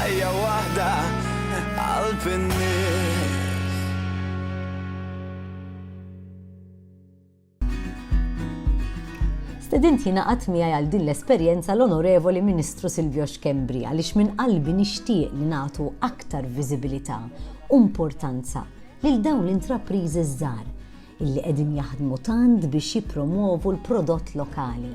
Ħajja waħda qalb in-nies. Stedint jingħaqad miegħi għal din l-esperjenza l-Onorevoli Ministru Silvio Xkembri għaliex minn qalbi nixtieq li nagħtu aktar viżibilità u importanza lil dawn l-intrapriżi żgħar illi qegħdin jaħdmu tant biex jippromwovu l-prodott lokali.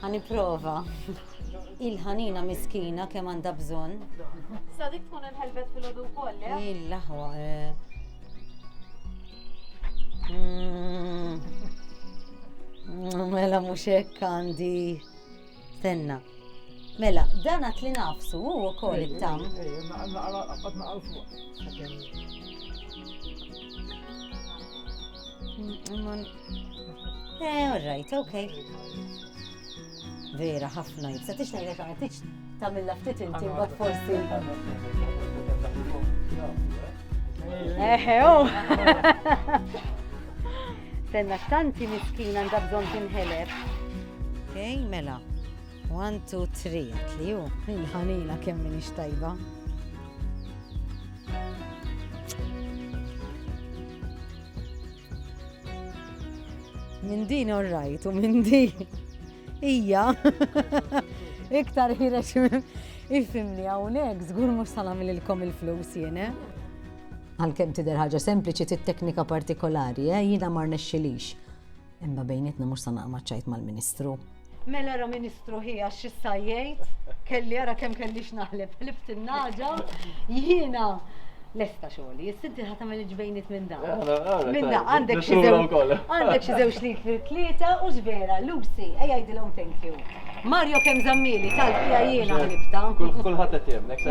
Ħa nipprova. Il-ħanina miskina kemm għandha bżonn. Sa dik tkun inħelbet fil-ħodu wkoll, eh? Il-laħwa. Eh. Mm. Mela mhux hekk għandi. Tenna. Mela, dan għat li nafsu u wkoll it-tam. Eh, all right, okay. Vera, ħafna jibsa, tix nejlek għana, tix tamilla ftit inti, bat forsi. Eħe, u. Oh. Senna, tanti miskina għanda bżon tinħeleb. Okej, mela. 1, 2, 3, li ju, il-ħanila kemm minix tajba. Minn din orrajt u minn din. Ija. Iktar ħirex minn. Ifimni hawnhekk żgur mhux sa nagħmililkom il-flus jiena. Għalkemm tidher ħaġa sempliċi tit-teknika partikolari, eh, jiena mar nexxilix. Imma bejnietna mhux sa naqma' ċajt mal-Ministru. Mela ara ministru hi għax x'issa jgħid, kelli ara kemm kelli x'naħleb, ħlift in-nagħġa, jiena lesta xogħli, issa inti ħa tagħmel il-ġbejniet minn dan. Minn dan għandek xi għandek xi żewġ litri tlieta u x'vera, Lucy, ejja jgħidilhom thank you. Mario kemm żammili tal fija jiena ħlibta. Kulħadd qed jemnek se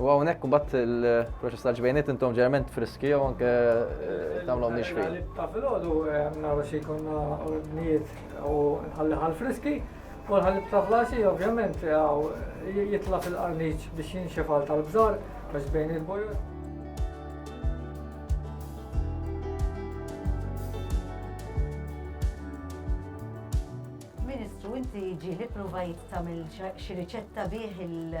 U hawnhekk imbagħad il-proċess ta' ġbejniet intom ġerment friski jew anke eh, tagħmlu mhix fil. Ta' filgħodu eh, nagħmlu xi jkollna ordnijiet u nħalli ħal friski u nħalli ta' flasi ovvjament eh, jitla' fil-qarniċ biex jinxef għal tal-bżar ta' ġbejniet bojor. Ministru, inti ġieli provajt tagħmel xi riċetta bih il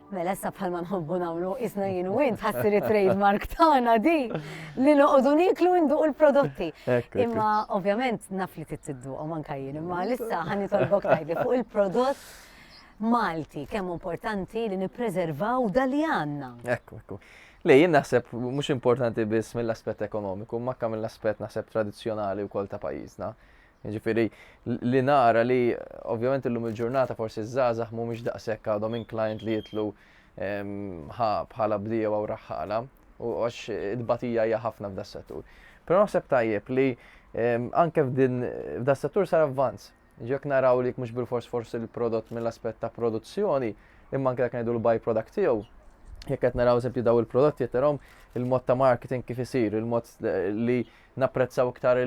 Mela issa bħalma nħobbu nagħmlu isna jien u int ħassir it-trademark tagħna di li noqogħdu niklu nduq il-prodotti. Imma ovvjament naf li tittiduqhom anke jien, imma lissa ħani tolbok tajdi fuq il-prodott Malti kemm importanti li nippreservaw dali għandna. Ekku, ekku. Li jien naħseb mhux importanti biss mill-aspett ekonomiku, ma kemm mill-aspett naħseb tradizzjonali wkoll ta' pajjiżna. Jiġifieri li nara li ovvjament illum il-ġurnata forsi ż-żgħażagħ mhumiex daqshekk għadhom inclined li jidħlu ħa bħala bdiewa u raħħala u għax it-tbatija hija ħafna f'das-settur. Però naħseb tajjeb li anke f'din f'das-settur sar avvanz. Jekk naraw li mhux bilfors forsi l-prodott mill-aspett ta' produzzjoni, imma anke jekk ngħidu l-byproduct tiegħu, jekk qed naraw eżempju daw il-prodotti qed narahom il-mod ta' marketing kif isir, il-mod li napprezzaw iktar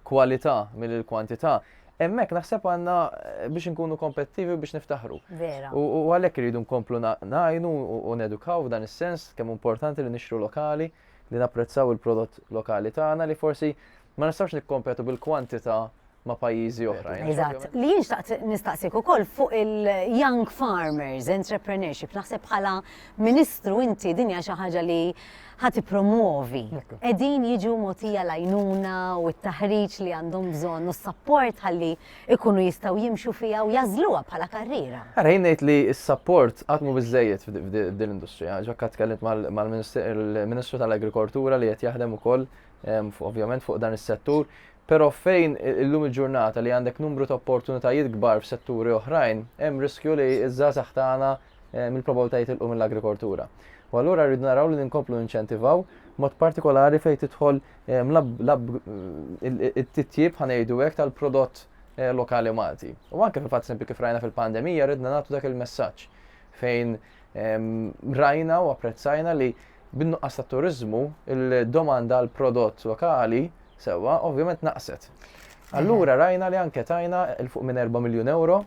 kwalità milli l-kwantità, hemmhekk naħseb għandna eh, biex inkunu kompettivi biex niftaħru. Vera. U għalhekk iridu nkomplu ngħinu u nedukaw f'dan is-sens kemm importanti li nixtru lokali, li napprezzaw il-prodott lokali tagħna li forsi ma nistgħux nikkompetu bil-kwantità ma' pajjiżi oħrajn. Eżatt. Li jien xtaqt nistaqsik ukoll fuq il-young farmers, entrepreneurship, naħseb bħala ministru inti dinja xi ħaġa li ħa tippromwovi. Qegħdin jiġu mogħtija l-għajnuna u t-taħriġ li għandhom bżonn u s-sapport ħalli ikunu jistgħu jimxu fiha u jagħżluha bħala karriera. Ara jien ngħid li s-sapport qatt mhu biżżejjed f'din l-industrija. Ġakka tkellimt mal-Ministru tal-Agrikoltura li qed jaħdem ukoll ovvjament fuq dan is-settur Pero fejn illum il-ġurnata li għandek numru ta' opportunitajiet kbar f'setturi oħrajn, hemm riskju li iż-żgħażagħ tagħna mill-probabbiltà jitilqu mill-agrikoltura. U allura rridu naraw li ninkomplu ninċentivaw mod partikolari fejn tidħol it-titjib ħanejdu hekk tal-prodott lokali Malti. U anke fil-fatt sempi kif rajna fil-pandemija ridna nagħtu dak il-messaġġ fejn rajna u apprezzajna li bin-nuqqas tat-turiżmu il-domanda għal prodott lokali sewwa ovvjament naqset. Allura rajna li anke tajna il fuq minn 4 miljun euro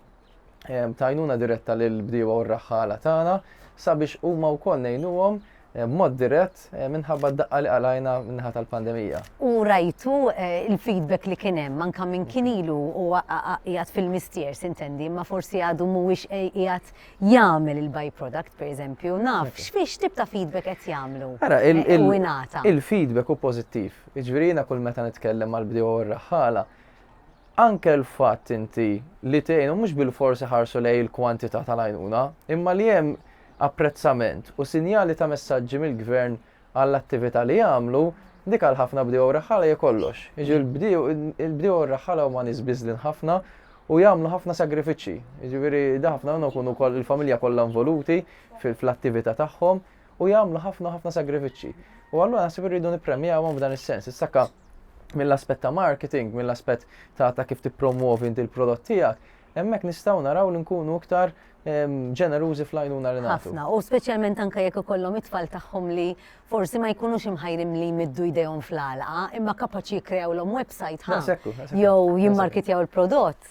b'għajnuna diretta lill-bdiewa u r-raħħala tagħna sabiex huma wkoll ngħinuhom b'mod dirett minħabba d-daqqa li qalajna min-naħa tal-pandemija. U rajtu l-feedback li kien hemm anke minn kien ilu huwa qiegħed fil-mistier, s'intendi, imma forsi għadu mhuwiex qiegħed jagħmel il-by-product, pereżempju, naf x'tip ta' feedback qed jagħmlu u jingħata? Il-feedback hu pożittiv. Jiġifieri jiena kull meta nitkellem mal-bdiewa u r-raħħala, anke l-fatt inti li tgħinu mhux bilfors iħarsu lejn il-kwantità tal-għajnuna, imma li hemm apprezzament u sinjali ta' messaġġi mill-Gvern għall-attività li jagħmlu, dik għal ħafna bdiewa u raħħala hija kollox. Jiġifieri l-bdiewa u r-raħħala huma nies biżlin ħafna u jagħmlu ħafna sagrifiċċji. Jiġifieri ħafna minnhom ikunu wkoll il-familja kollha involuti fl-attività tagħhom u jagħmlu ħafna ħafna sagrifiċċji. U allura naħseb irridu nippremjawhom f'dan is-sens. Is-sakka mill-aspett ta' marketing, mill-aspett ta', ta kif tippromwovi inti l-prodott tiegħek, hemmhekk nistgħu naraw li nkunu iktar ġenerużi fl-għajnuna li nagħtu. Ħafna, u speċjalment anke jekk ikollhom it-tfal tagħhom li forsi ma jkunux imħajrim li jmiddu jdejhom fl-għalqa, imma kapaċi jikkreawlhom website ħa. Jew jimmarkitjaw il-prodott.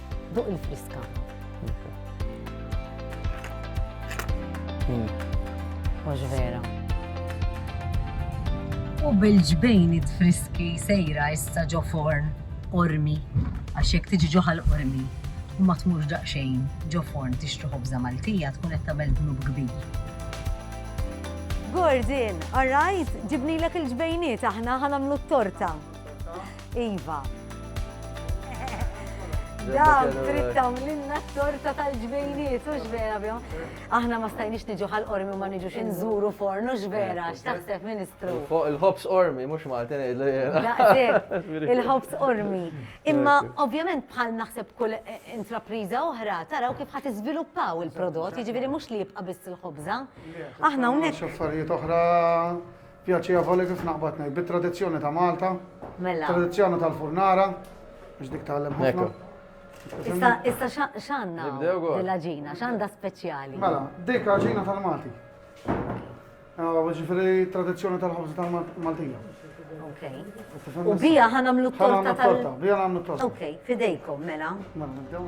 Duq il-friska. Mhux vera. U bil-ġbejn it-friski sejra issa ġo forn ormi, għax jekk tiġi ġoħal ormi u ma tmurx daqsxejn ġo forn tixtri ħobża Maltija tkun qed tagħmel dnub kbir. Gordon, all right, ġibnilek il-ġbejniet aħna ħanamlu t-torta. Iva. Daw, trid tagħmlilna t-torta tal-ġbejniet, u x'vera bjom. Aħna ma stajniex niġu ħal ormi ma niġux inżuru forn, u x'vera, x'taħseb Ministru. Il-ħobs ormi, mhux Maltin Il-ħobs ormi. Imma ovvjament bħal naħseb kull eh, intrapriża oħra taraw kif ħadd iżviluppaw il-prodott, jiġifieri mhux li jibqa' biss il-ħobża. Aħna hawnhekk. X'affarijiet oħra Pjaċevoli, kif naqbad ngħid, bit-tradizzjoni ta' Malta. Mela. Tradizzjoni tal-furnara, biex dik tagħlem ħafna. Issa, issa x'għandna l-aġina, x'għandha speċjali? Mela, dik aġina tal-Malti. Ah, ġifieri tradizzjoni tal-ħobż tal-Maltija. U bija ħanamlu torta. Bija ħanamlu torta. Ok, fidejkom, mela. Mela,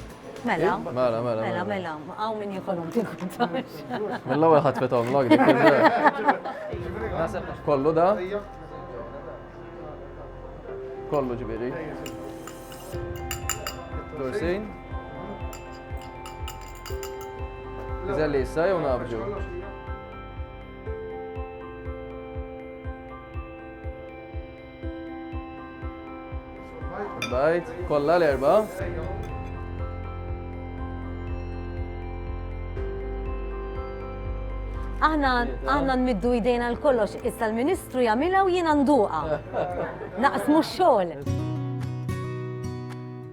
Mela, mela, mela, mela, mela, għaw minn jikolom tikkuntax. Mela, għu ħat fetom log, kollu da? Kollu ġibiri. Dorsin? Iżelli issa jew nabġu? Bajt, kollha l-erba. Aħna aħna nmiddu jdejna l-kollox, issa l-Ministru jagħmilha u jiena nduqa. Naqsmu x-xogħol.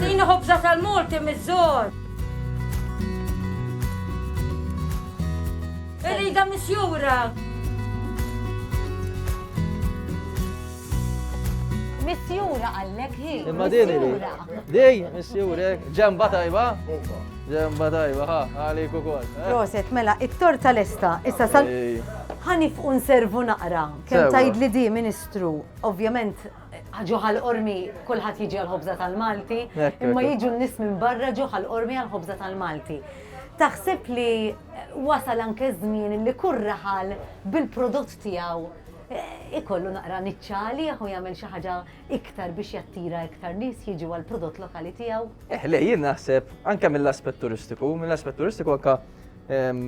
Tini ħobża tal-Malti miż-żor. Irida misjura. Misjura għallek hi. Imma din hi. Din, misjura, ġemba tajba. Ġemba tajba, ha, għalik u kol. Eh? Proset, mela, it-torta lesta, issa sal. Ħanif un servu naqra, kem tajd li di, ministru, ovvjament, ġoħal ormi kullħat jiġi għal-ħobza tal-Malti, imma jiġu n-nis minn barra ġoħal ormi għal-ħobza tal-Malti. Taħseb li wasal anke żmien li kurraħal bil-prodott tiegħu eh, ikollu naqra niċċali u jagħmel xi ħaġa iktar biex jattira iktar nies jiġu għal prodott lokali tiegħu? Eh, le, jien naħseb anke mill-aspett turistiku, mill-aspett turistiku anke ehm,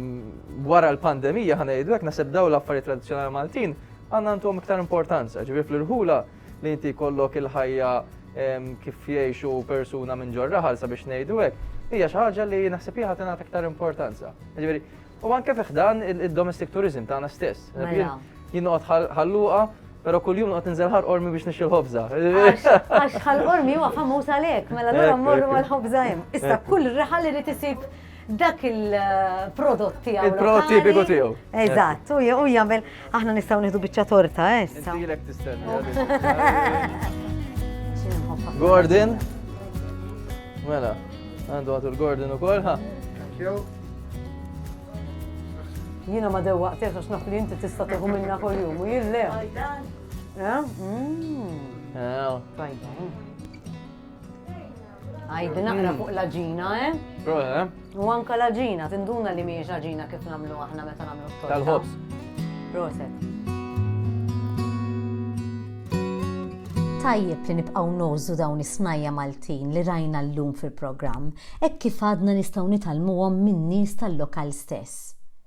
wara l-pandemija ħana jgħidu hekk naħseb daw l-affarijiet tradizzjonali Maltin għandna għandhom iktar importanza, ġifieri fl-irħula li inti kollok il-ħajja ehm, kif jgħixu persuna minn ġorraħal sabiex ngħidu hekk, hija xi ħaġa li naħseb hija ħadd iktar importanza. Ġifieri U anke fi ħdan id-domestic tourism tagħna stess. Mela. Jien noqgħod ħalluqa Pero kull jum għat nżel ħar ormi biex nixil ħobza. Għax ħal ormi huwa famuż għalek, mela l-għura morru għal ħobza jem. Issa kull riħal li tisib dak il-prodott tiegħu. Il-prodott tipiku tiegħu. Eżatt, u jagħmel Aħna nistgħu nieħdu biċċa torta, eh? Intilek tistenna. Gordon. Mela, għandu għatu l-Gordon u kolħa. Thank you. Jina ma dew waqt għax naf li inti tista' tieħu minna kol jum u jille. Fajdan. Eh? Mm. Eh, oh. Fajdan. Għajdi naqra fuq l-ġina, eh? eh? U anka l-ġina, tinduna li miex ġina kif namlu aħna meta namlu t-torta. Tal-ħobs. Proset. Tajjeb li nibqgħu nożu dawn is-snajja Maltin li rajna llum fil-programm, hekk kif għadna nistgħu nitalmuhom min-nies tal-lokal stess.